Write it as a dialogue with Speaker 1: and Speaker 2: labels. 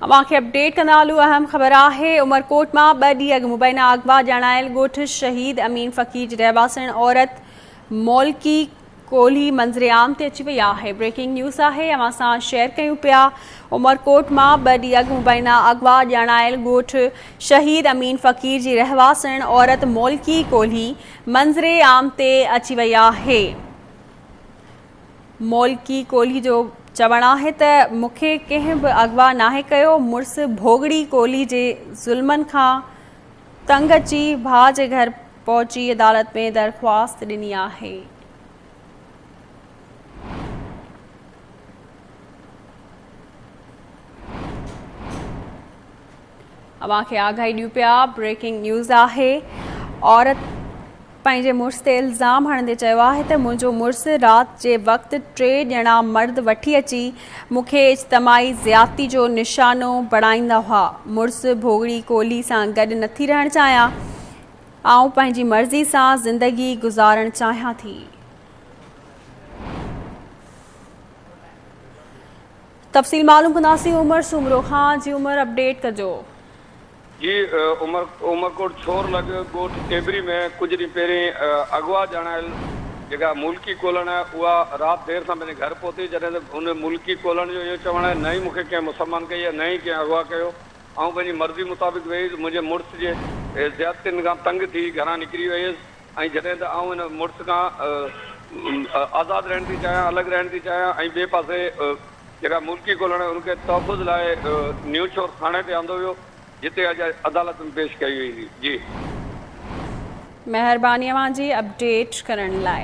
Speaker 1: اوهان کي اپڊيٽ ڪندا هلون اهم خبر آهي عمرڪوٽ مان ٻه ڏينهن اڳ مبينا اغوا ڄاڻايل ڳوٺ شهيد امين فقير جي رهواسڻ عورت مولڪي ڪولهي منظر عام تي اچي وئي آهي بريڪنگ نيوز آهي اوهان سان شيئر ڪيون پيا عمرڪوٽ مان ٻه ڏينهن اڳ مبينا اغوا ڄاڻايل ڳوٺ شهيد امين فقير جي رهواسڻ عورت مولڪي ڪولهي منظر عام تي اچي وئي آهي مولڪي ڪولهي جو چوڻ آهي ته مون کي ڪنهن به اغوا ناهي ڪيو، مڙس ڀوڳڙي ڪولهي جي ظلمن کان تنگ اچي ڀاء جي گهر پهچي عدالت ۾ درخواست ڏني آهي. اوهان کي آگاهي ڏيون پيا بريڪنگ نيوز آهي عورت پنهنجي مڙس تي الزام هڻندي چيو آهي ته منهنجو مڙس رات جي وقت ٽي ڄڻا مرد وٺي اچي مون کي اجتماعي زيادتي جو نشانو بڻائيندا هئا مڙس ڀوڳڙي ڪولهي سان گڏ نٿي رهڻ چاهيان آئون پنهنجي مرضي سان زندگي گذارڻ چاهيان ٿي تفصيل معلوم ڪنداسين عمر سومرو کان جي عمر اپڊيٽ ڪجو. جي
Speaker 2: عمر عمرڪوٽ ڇور لڳ ڳوٺ ٽيٻري ۾ ڪجهه ڏينهن پهرين اغوا ڄاڻايل جيڪا ملڪي ڪولڻ اها رات دير سان پنهنجي گهر پهتي جڏهن ته ان ملڪي ڪولڻ جو اهو چوڻ آهي نه ئي مون کي ڪنهن مسلمان ڪئي نه ئي ڪنهن اغوا ڪيو آئون پنهنجي مرضي مطابق ويئي هيس منهنجي مڙس جي زيادتين کان تنگ ٿي گهران نڪري ويئي هيس ۽ جڏهن ته آئون هن مڙس کان آزاد رهڻ ٿي چاهيان، الڳ رهڻ ٿي چاهيان ۽ ٻئي پاسي جيڪا ملڪي ڳولڻ ان کي تحفظ لاء نيوشور ٿاڻي تي آندو ويو جتي اڄ عدالت ۾ پيش ڪئي ويندي. جي.
Speaker 1: مهرباني اوهان جي اپڊيٽ
Speaker 2: ڪرڻ لاء.